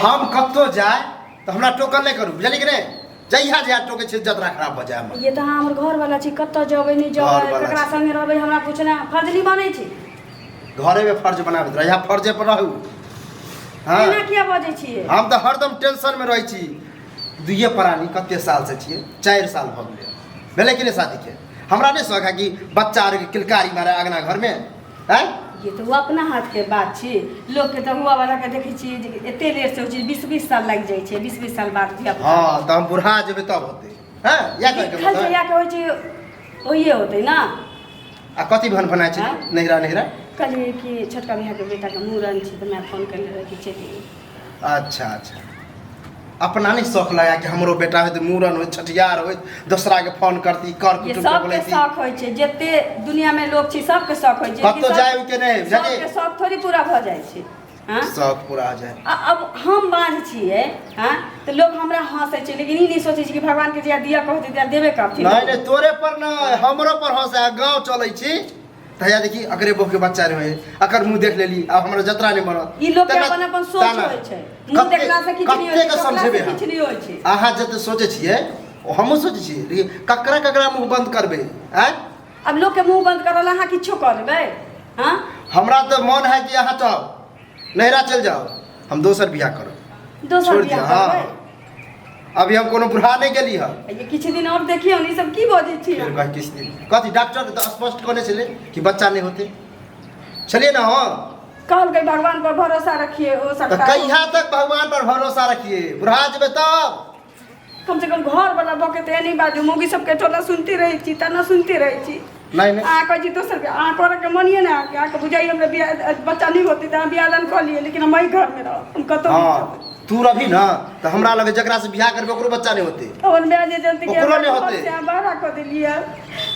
हम कतौ जाय तऽ हमरा टोकन नहि करू बुझलियै कि नहि जहिया जहिया टोके छै जतरा खराब भऽ जाय हमर ये तऽ अहाँ हमर घर वाला छी कतऽ जेबै नहि जेबै घरवाला ककरा छी। संगे रहबै हमरा कुछ ना फर्ज नहीं बनै छै घरे में फर्ज बनाबैत रह यहाँ फर्जे पर रहू हाँ एना किया बजै छियै हम तऽ हरदम टेंशन में रहै छी दुइये प्राणी कते साल से छियै चारि साल भऽ गेलै भेलै कि नहि शादी के हमरा नहि शौक है कि बच्चा आर के किलकारी मारे अगना घर में हैं ये तो अपना हाथ के बात छी लोग के तो हुआ वाला के देखे छी जे एते लेट से छी 20 20 साल लग जाय छै 20 20 साल बाद भी अब हां त हम बुढ़ा जेबे तब होते हैं या कर के लिखल बता जहिया के होइ छै ओहिए होतै ना आ कथी भन भना छै हाँ? नहिरा नहिरा कहलिए कि छोटका भैया के बेटा के मूड़न छै त मैं फोन करले रहे कि चलि अच्छा अच्छा अपना नहीं शौक लगा कि हमरो बेटा होत मूड़न होत छठियार होत दोसरा के फोन करती कर ये कुटुम के सबके बोलैती शौक होइ छै जते दुनिया में लोग छै सबके शौक होइ छै कतौ कि सब- जाय के नहि, जाके- सबके शौक थोड़ी पूरा भऽ जाइ छै हाँ? शौक पूरा हो जाए आ अब हम बाँझ छियै हाँ तऽ लोग हमरा हँसै छै लेकिन ई नहि सोचै छै कि भगवान के जहिया दिया कहतै तहिया देबे करथिन नहीं नहीं तोरे पर ना हमरो पर हंसा गांव चलै छी तहिया देखी अकरे बहू के बच्चा रहे अकर मुंह देख लेली अब हमरा जतरा नहीं बनत ई लोग के तेना- अपन अपन सोच ताना। होइ छै मुंह कते- देखला से किछु नहि होइ कते छै के सोचला समझेबै से हम? किछु नहि होइ छै अहाँ जते सोचे छियै ओ हमहूँ सोचे छियै लेकिन ककरा ककरा मुंह बंद करबै आँय अब लोग के मुंह बंद करल अहाँ किछो करबै हाँ हमरा तऽ मोन है कि अहाँ तऽ नहरा चल जाओ हम दोसर बियाह करब दोसर छोड़ दिया बियाह हाँ करबै? अभी हम कोनो बुढ़ा नहीं गेली है ये किछु दिन और देखियौ ने ई सब की बजै छी फिर कह किस दिन कथी डॉक्टर तो स्पष्ट कहने चले कि बच्चा नहीं होते चलिए ना हाँ कहलकै भगवान पर भरोसा रखिए ओ तो सरकार कहिया तक भगवान पर भरोसा रखिए बुढ़ा जेबे तब कम से कम घर वाला बके ते नहीं बाजू मौगी सब के टोला सुनते रहे छी तना सुनते रहे छी नहीं नहीं आ कह जी दोसर के आ करे के मनिए ना आके आ के बुझाई हमरा बियाह बच्चा नहीं होते त बियाह दान कर लिए लेकिन हम एही घर में रह हम कतो नहीं हाँ जाब। तू रही ना तो हमरा लगे जकरा से बियाह करबे ओकरो बच्चा नहीं होते और मैं जे जल्दी के ओकरो नहीं होते। से बाहर कर देलिए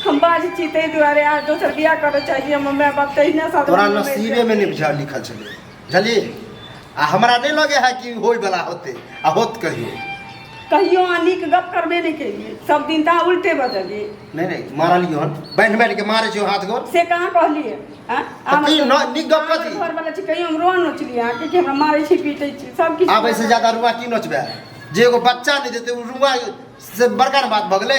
हम बाज छी ते दुआरे आ दोसर बियाह करे चाहिए हम मैं बात तहिना साथ तोरा में बैठ नसीबे में नहीं बुझा लिखल छले बुझलिए आ हमरा नहीं लगे है कि होय वाला होते आ होत कहियो कहियो अहाँ नीक गप करबे नहि केलियै सब दिन तऽ अहाँ उल्टे बजलियै नहीं नहीं मारलियो हन बांध बांध के मारे छियो हाथ गोर से कहाँ कहलियै आँ? तऽ अहाँ कहियो न- नीक गप कथी घर वाला छी कहियो हम रोआ नोचलियै अहाँके कि हमरा मारै छी पीटै छी सब किछु आब ऐसे ज्यादा रुआ की नोचबे जे एगो बच्चा नहीं देते उ रुआ से बड़का ने बात भगले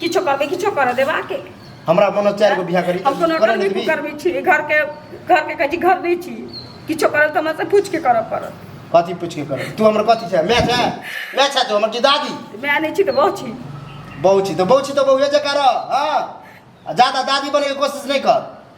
किछो करबै किछो करऽ देबा के हमरा बनल चारि गो बियाह करी हम कोनो करऽ घर नहि देबी करबै छी घर के घर के कहै छी घर नहि छी किछो करब तऽ हमरा से पूछ के करऽ पड़त कथी पूछ के करब तू हमर कथी छै मैच है मैच है तू हमर की दादी मैं नहि छी तऽ बहुत छी बहू छी तऽ बहू छी तऽ बहुए जकाँ रह हँ आ जादा दादी बने के कोशिश नहि कर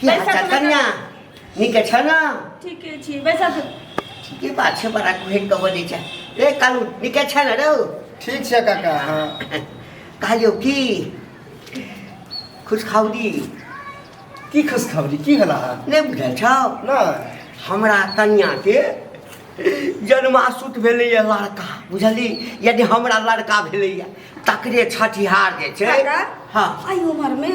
की हाल चाल कन्या नीक छ न ठीके छी बैसा त ठीके बात छ बड़ा भेट कब दै छ ए कालु नीक छ न रौ ठीक छ काका हां कहलियो की खुश खाउरी की खुश खाउरी की हला नै बुझल छ न हमरा कन्या के जन्मासुत भेलैए लड़का बुझली यदि हमरा लड़का भेलैए तकरे छठिहार जे छै हँ एहि उमरमे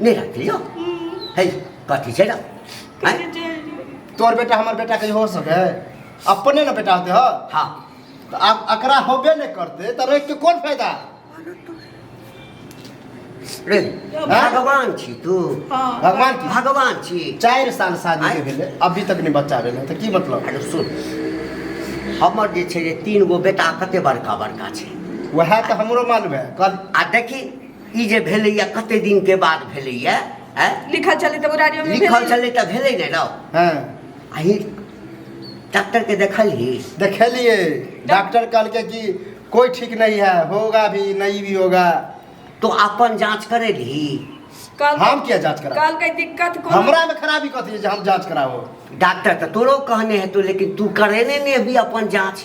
नहीं रखती हो है कथी छै ना हैं? तोर बेटा हमर बेटा कहीं हो सके अपने ना बेटा होते हो हाँ तो आप अकरा होबे नहीं करते तो रख के कौन फायदा रे हाँ? भगवान छी तू भगवान की भगवान छी चार साल शादी के आँय? भेले अभी तक नहीं बच्चा भेले तो की मतलब अरे सुन हमर जे छै जे तीन गो बेटा कते बड़का बड़का छै वह तो हमरो मालूम है कल आ देखी ई जे भेलैया कते दिन के बाद भेलैया हैं? लिखल छलै तऽ मुरारियो में लिखल भेलै। छलै तऽ भेलै ने रौ हाँ अही डॉक्टर के देखलही देखेलिए डॉक्टर कल के कि कोई ठीक नहीं है होगा भी नहीं भी होगा तो अपन जांच करेलही कहलकै- हम किया जांच करा कहलकै दिक्कत कोनो हमरा में खराबी कथी है जे हम जांच कराओ डॉक्टर तो तोरो कहने हेतौ लेकिन तू करेने ने भी अपन जांच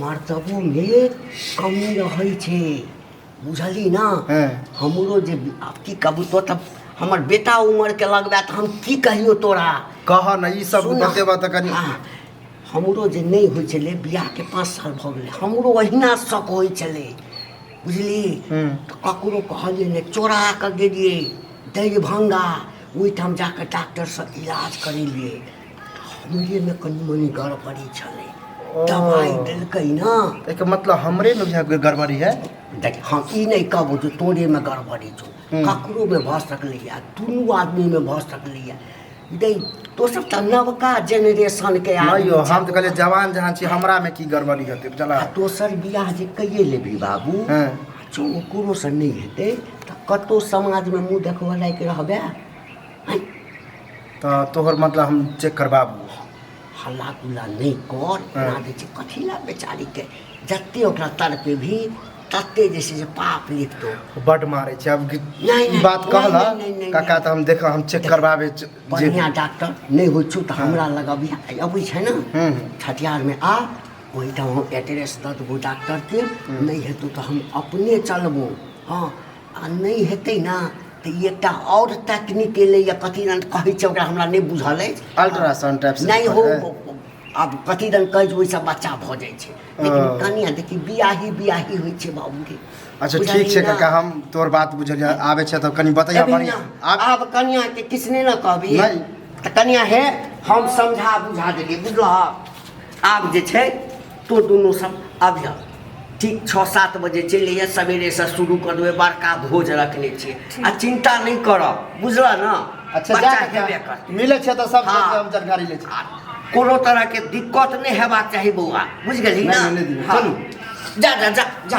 मर्तबो में कमी रहै छै बुझली ना हैं। हमरो जे आब की कहबू तो तब हमर बेटा उमर के लगबा तऽ हम की कहियो तोरा कह न ई सब सुन ना। बतेबा तऽ कनी हाँ, हमरो जे नहि होइ छलै बियाह के पाँच साल भऽ गेलै हमरो अहिना शक होइ छलै बुझली हूँ। तऽ ककरो कहलियै ने चोरा कऽ गेलियै दरिभंगा ओहिठाम जाकऽ डॉक्टरसँ इलाज करेलियै सुइएमे कनि मनि गड़बड़ी छलै ओ दवाइ देलकै ने एहिके मतलब हमरे ने बुझाय कोई गड़बड़ी है देख हम ई नहि कहबो जे तोरेमे गड़बड़ी छौ हूँ। ककरोमे भऽ सकलैए दुनू आदमीमे भऽ सकलैए दै दोसर तऽ नवका जेनरेशनके नहि आदमी यौ हम तऽ छै। कहलियै जवान जहाँ छी हमरामे की गड़बड़ी हेतै बुझला आ दोसर बियाह जे कैये लेबी बाबू हँ। जँ ओकरोसँ नहि हेतै तऽ कतहु समाजमे मुँह देखबऽ लायक रहबै तऽ तोहर मतलब हम चेक करबाबू हल्ला गुल्ला नहि कर ओकरा जे छै कथी लए बेचारीके जते ओकरा तड़पे भी तते जे छै से पाप लिखतो बड मारे छै अब कि- नहि, ई बात नहि, कहला नहि, नहि, नहि, काका तऽ हम देख हम चेक करबाबे च- जे बढ़िया डॉक्टर नहि होइ छौ तऽ हमरा लग अभी अबै छै ने हम्म। छठियारमे आ ओहिठाम हम एड्रेस दऽ देबौ डॉक्टरके नहि हेतौ तऽ हम अपने चलबौ हँ आ नहि हेतै ने तऽ ई एकटा आओर टेक्निक एलैए कथी दन कहै छै ओकरा हमरा नहि बुझल अछि अल्ट्रासाउंड टाइप से नहि हो पड़ै? आब कथी दन कहै छै ओहिसँ बच्चा भऽ जाइ छै लेकिन ओ। कनिया देखी बियाही बियाही होइ छै बाबूके अच्छा ठीक बुझलियै छै ने? काका हम तोर बात बुझलियै आबै छै तऽ कनि बतैया अभी बढ़िया ना, आब आब कनिया के किछु नहि ने कहबी नहि। तऽ कनिया हे हम समझा बुझा देलियै बुझलह आब जे छै तो दुनू सब अभिया ठीक छओ सात बजे चलि अइहे सवेरेसँ शुरू कऽ देबै बड़का भोज रखने छियै आ चिन्ता नहि करब बुझलऽ ने अच्छा बच्चा जा हेबे कर कऽ मिलै छै तऽ सब हाँ। सबके हम जानकारी लै छी आ कोनो तरहके दिक्कत नहि हेबाक चाही बौआ बुझि गेली नहि, ने नहि, नहि दियौ। हाँ। चलू। जा जा जा जा